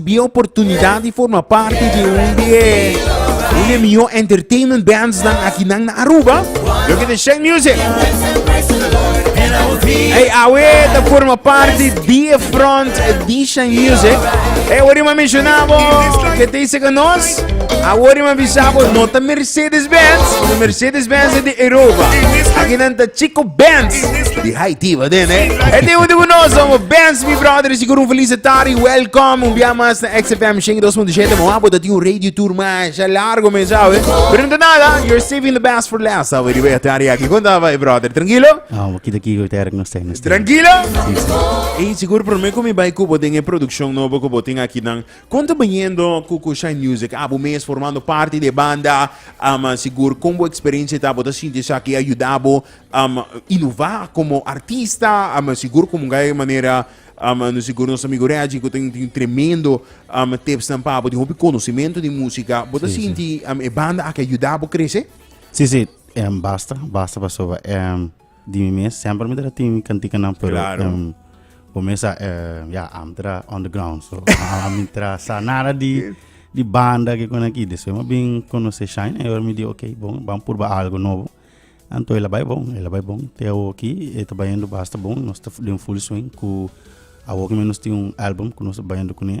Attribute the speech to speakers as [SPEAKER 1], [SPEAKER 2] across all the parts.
[SPEAKER 1] Bia oportunidad di forma parti di un di e un di e mihó entertainment bands nan aki nan na Aruba. Lo ke te Sheng Music. Hey, awe ta forma parti di e front di Sheng Music. Hey, wari ma mencionabo ke te seka nos. Awor ima bisabo no ta Mercedes Benz, no Mercedes Benz e di Europa. Aki nan ta Chico Benz di Haiti, wat den eh. E di undi bu nos, omo Benz, mi brother, sigur un feliz tari, welcome, un bia mas na XFM 102.7, mo abo dat un radio tour mas, ja largo men, sabe? Pero nta nada, you're saving the best for last, sabe, di bia tari aki, konta vai, brother, tranquilo? Ah, mo kita kigo te erg no stay, no stay. Tranquilo? E sigur, prome ko mi bai kubo den e produksyon nobo ko botin aki nan, Kon ta biniendo ku ku Shine Music a bo mes formando parti di e banda? Um sigur kon bo eksperensia ta bo ta sinti esaki a yuda bo um inova komo artista? Um sigur komo un gaya manera um no sigur nos amigo Reggie ku tin tin tremendo um tipsnan pa bo tin hopi konosementu di musika bo ta Sí, sí. sinti um e banda aki a yuda bo krese? Sí, sí, em, basta, basta pasoba em, Di mi mes semper mi ta tin mi cantikanan pero claro. um, bo mes a uh, ya am tra on the ground so a mi tra sa nada di di banda que con aquí después me bin conocer Shine e mi di ok bon vamos probar algo novo anto ela bai bon ela bai bon te awo aquí e ta baindo basta bon nos ta den full swing ku awo que menos tin un album ku nos ta baindo kune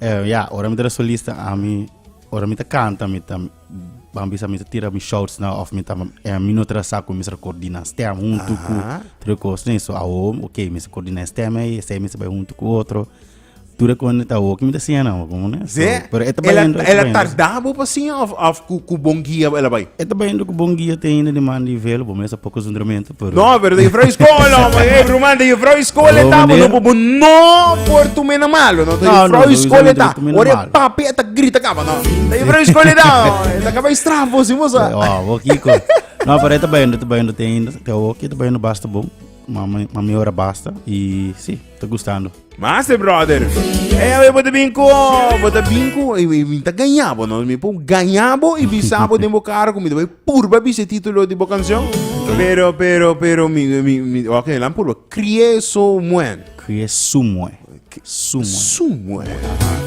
[SPEAKER 1] Eh, ya, ora mi ta solista, ami, ora mi ta canta, mi ta, ban bisa mi ta tira mi shouts na, of mi ta, eh, mi no tra sa ku mi sa coordina stem junto ku Aha. tre cos, ne, so awo, ok, mi sa coordina stem ei, esei mi sa bai junto ku otro, tur e konde ta awo, ki mi ta siña nan, como ne, so, Ze, pero e ta ela, bayendo, e ta ela bayendo. tarda bo pa siña of, of ku, ku bon guia ela bai? E ta bayendo ku bon guia te ainda di man di velo, bo mesa poko zundramento. Pero... No, pero de juffrouw school, oh, maar hey, broer, de juffrouw school en tabo, no, bobo, no, por tu mena malo, no, de juffrouw no, school en tabo, ore papi eta grita kaba, no, de juffrouw school en tabo, eta kaba i strafo, si moza. Oh, bo, kiko. No, pero eta bayendo, eta bayendo, te ainda, te hoki, eta bayendo basta bom, mami, mami ora basta, y sí, te gustando. Master brother. Hey, a ver, bota bin ko, bota bin ko, e mi ta gañabo, no? Mi po gañabo y bisabo den bo cara con mi te voy purba bise título de bo canción. Pero, pero, pero, mi, mi, mi, ok, lan purba. Crie so muen. Crie su muen. Su muen. Su muen.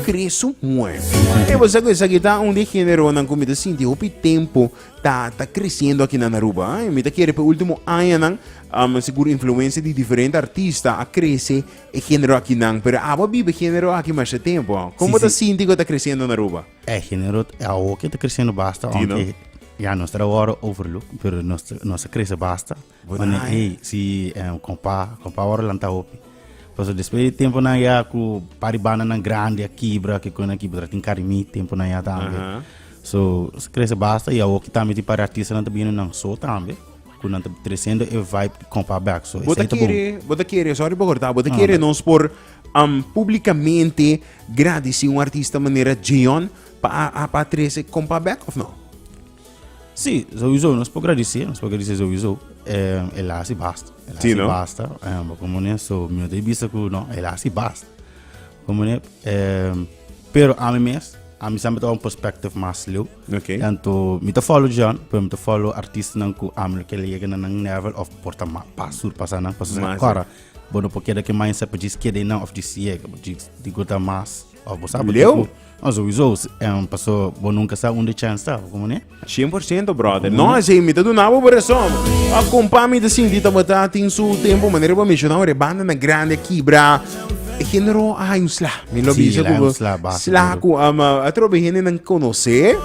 [SPEAKER 1] Crie su muen. E vos sa esa que ta un de género nan con mi te sinti hopi tempo ta, ta creciendo aquí nan Aruba. Eh? Mi te quiere pe último año nan Um, sigur influencia di diferente artista a crece e genero aki nan, pero abo bibe genero aki masha tempo. Con bo ta sinti cu ta creciendo na Aruba? E genero awo que ta creciendo basta, aunque ya nos ta wor overlook, pero nos nos ta crece basta. Wane hey, si um, compa, compa wor lanta hopi. Paso despues di tempo nan ya cu par di banda nan grandi a kibra, que con aki botra tin carimi, tempo nan ya tambe. Uh -huh. So, crece basta y awo ki tambe tin par di artistanan ta bini nan so tambe. Cu nan ta treciendo e vibe di compa back. So, Bo ta kere, bo ta kere, sorry pa corta, bo ta kere nos por um, publicamente gradici un artista manera Djeon pa a, pa trece compa back of no? Si, sowieso nos por gradici, nos por gradici sowieso. Eh, el hace basta. El hace no? basta. Um, bo como ne, so, mi te bisa cu no, el hace basta. Como ne, um, pero a mi mes, a mi sempre ta un perspective mas leu. Okay. Tanto mi ta follow John, pero mi ta follow artistanan ku amel ke llega na nan level of por ta ma pa sur pasa nan pasa Mas, kora. Bo no por keda ke mindset pa jis keda nan of jis yega, bo jis di go ta mas. Of bo sa bo Leo. tipo- No, sowieso, s- em, paso bo nunca sa unda chance ta, como ne? 100% brother. No, así mi te donaba por razón. A compa mi te sinti tabata tin su tiempo manera pa mencionar de banda na grande kibra. E hende ro a hay un sla. Mi lo Sí, bisa la ku hay un sla basi sla duro. ku ama atrobe hende nan konosé.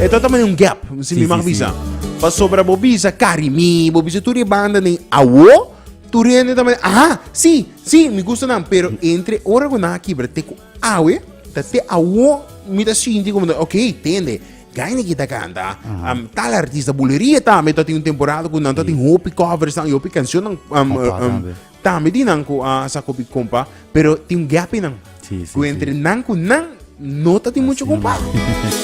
[SPEAKER 1] E ta tamani un gap, si Sí, mi mag sí, sí. bisa. Pa sobra bo bisa Carimi, bo bisa tur e banda nen awo, tur e hende tamani aha, sí, sí, mi gusta nan. Pero entre ora ku nan a kibra te ku awe, ta te awo mi ta sinti komo ok, tende, Geinegy ta kanta, am, tal artista, Buleria tambe ta tin un temporada ku nan ta tin hopi covers nan, hopi kanshonnan, am, Opa, am, tambe. tambe di nan ku a sa kopi kompa, pero tin un gèpinan. Sí, sí, ku entre nan ku nan no ta tin mucho kompa.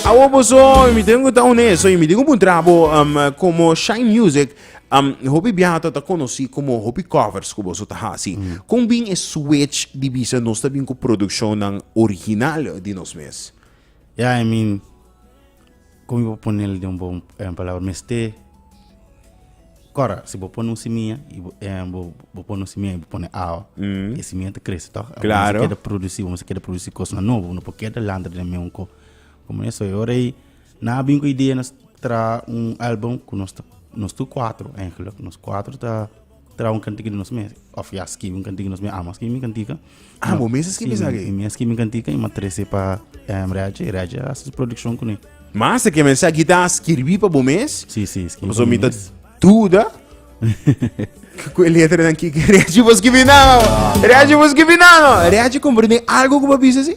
[SPEAKER 1] Awo boso, mi tengo ku ta honesto, mi tengo ku puntra bo um, como Shine Music, um, hopi biaha ta ta konosi como hopi covers ku boso ta hasi. Kon bin e switch di bisa nos ta bin ku produkshonnan original di nos mes? Ja, I mean, Como bo ponel den bo palabra mester cora si bo pone un simia y bo bo pone un simia y bo pone awa e simia ta crece toch y bo ta keda produci bo ta keda produci cosnan nobo no por keda lanta den meun co como eso y ora y nan a bini cu idea nos traha un album cu nos ta nos tur cuatro nos cuatro ta. Traha un kantika di nos mes, of ya skibi un kantika di nos mes, amo a skibi mi kantika. Amo mes a skibi esaki? Si, mi a skibi mi kantika i mi a trese pa em, Reaje, i Reaje a hasi su produkshon kuné. Ma se ke mensa kita a skirbi pa bo mes? Si, si, skibi pa Paso mi mi ta mes. duda. Ku e letra nan kiki reaji bos kibi nano. Reaji bos kibi nano. Reaji komprende algo ku pa bisa si?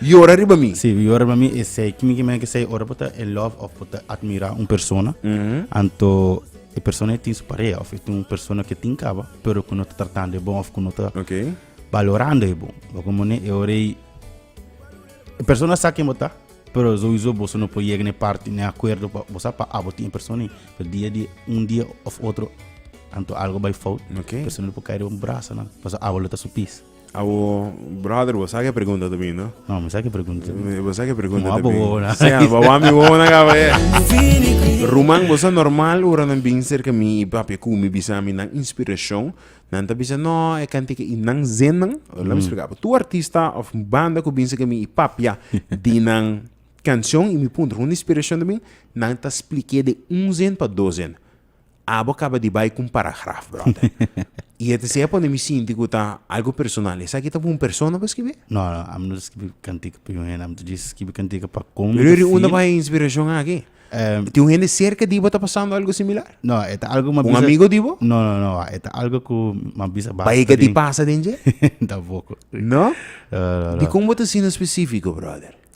[SPEAKER 1] Yora riba mi. Sí, yora riba mi esei kimi ki meke sei ora bo ta en love of bo ta admira un persona. Mm -hmm. Anto e persona e tin su parea of e tin un persona ke tin kaba, pero ku no ta tratando e bon of ku no ta okay. valorando e bon. Bo como ne e ora e persona sa ken bo ta, pero sowieso bo no po yega ne parti ne acuerdo pa bo sa pa abo tin e persona. Pero dia dia un dia of otro anto algo bai fout. Okay. Persona po kai riba un brasa na, paso abo lo ta su pis. Awo brother bo sa ke pregunta ta bini no? No, mi sa ke pregunta ta bini. Bo sa ke pregunta ta bini. Mo na. Sea, bo wa mi wo na ka be. Ruman bo sa normal ora nan bin serka mi i papia ku mi bisa mi nan inspiracion. Nan ta bisa no e kantika i nan zennan. Lami splica bo. Tur artista of banda ku bin serka mi i papia di nan cancion i mi puntra hunda inspiracion ta bin nan ta splica de un zen pa dos zen. Abo caba di bay cu un paragraf, brother. Y e ta siña pone mi sinti cu ta algo personal. Esaki ta pa un persona bo skibi? No, no, ami no ta skibi cantica pa un hende, ami ta djis skibi cantica pa con mi Pero ta e riunda feel. bay e inspiracion aki. Ehm, Tin un hende cerca di bo ta pasando algo similar? no, e ta algo mas Un bisa- amigo di bo? No, no, no, e ta algo cu mas bisa basta Bay e ka di pasa den dje? Tampoco. No? No, no, no. Di con bo ta asina specifico, brother?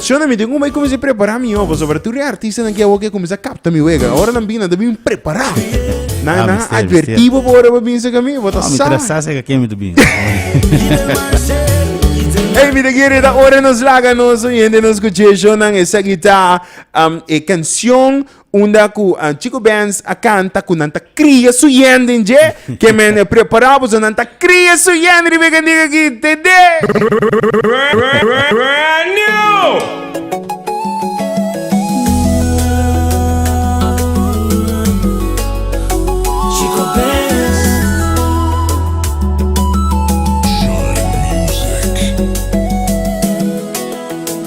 [SPEAKER 1] Shona mi den un bay kuminsé prepará mi ogo so pasobra tur e artistanan ke awor ke kuminsá kapta mi wega ora nan bini nan ta bini prepará nan Ah, nan mester, a advertí bo bo ora bo bin saka mi bo ta Ah, mi sa tra sa se ka kemi tu bin. Hey, mi te quiere da ora nos laga nos oyente nos escuché shonan esa guitar um, e canción Unda ku Chico Benz a kanta ku nan ta kria su yen den dje, ke men e prepará boso, nan ta kria su yen riba e kantiga aki, TD!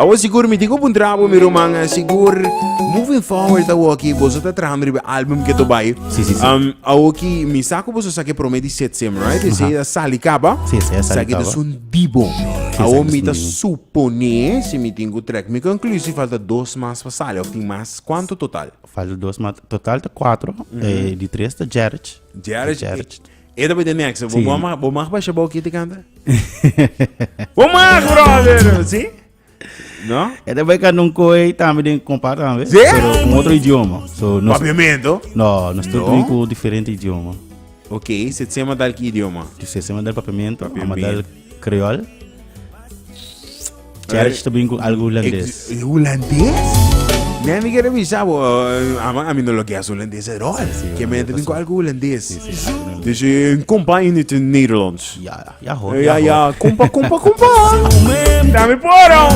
[SPEAKER 1] Awor sigur mi tin ku puntra bo mi ruman, sigur Moving Forward awor aki boso ta trahando riba e album ke to bai. Si, si, si. Um, awor ki mi sa ku boso sa ke prome di Setsem, right? Esei Aha. ta sali kaba. Si, esei a sali Sa ki ta kaba. son di bon. Si, Awor esaki mi ta sunding. suponé si mi tin ku trek mi konklusi falta dos mas pa sali of tin mas kuanto total? Falta dos, maar totaal te cuatro. Eh, die tres te Jarrett. Jarrett, Jarrett. E ta bida next. Sí. Bo mag, bo mag basha bo kiti canta. bo mag, brother. Sí? No? E ta bida nun koi tambe den compa tambe. Sí. Pero con otro idioma. So, nos, Papiamento. no, nos no. No? con diferente idioma. Ok, se tsema tal ki idioma. Dus se mandar papiamento, Papiamento. mandar Creole. Cherish te bin con algo holandés. Eh, Holandés? Nee, mi quiere avisar, bo, eh, ama, a mí no lo que es holandés at all. Que me entra con algo holandés. Dus je een kompa in het Nederlands. Ja, ja hoor. Ja, hoor. ja, kompa, kompa, kompa. Dame poro.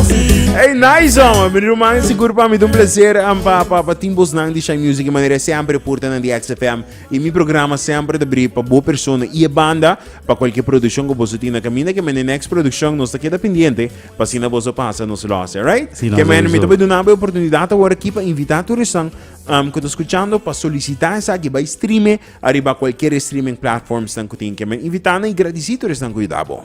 [SPEAKER 1] Hey, nice, man. Mijn roman is goed, man. Met een plezier. En pa, pa, pa, Timbos, man. Die Shine Music, man. Sempre porten aan die XFM. I mi programa semper ta bri pa bo persona i e banda pa kualke produkshon ku boso tin na kaminda kemen e nèks produkshon nos ta keda pendiente pa asina boso pasa nos lòs alright Si, no kemen mi ta sowieso. bai duna bo e oportunidat awor aki pa invitá tur esnan am ku ta skuchando pa solisitá esaki bai streame ariba kualkier e streaming platformsnan ku tin kemen invitá nan i gradisí tur esnan ku yuda bo.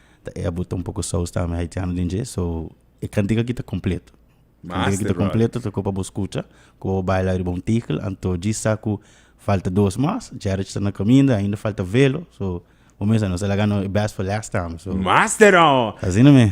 [SPEAKER 1] ta e a bota un poco saus tambe haitiano den dje so e cantica aki ta completo cantica ta completo toco pa bo scucha como bo baila riba un tickel anto djis sa cu falta dos mas jerry ta na caminda ainda falta velo so bo mes a nos a laga no best for last tambe so asina mi.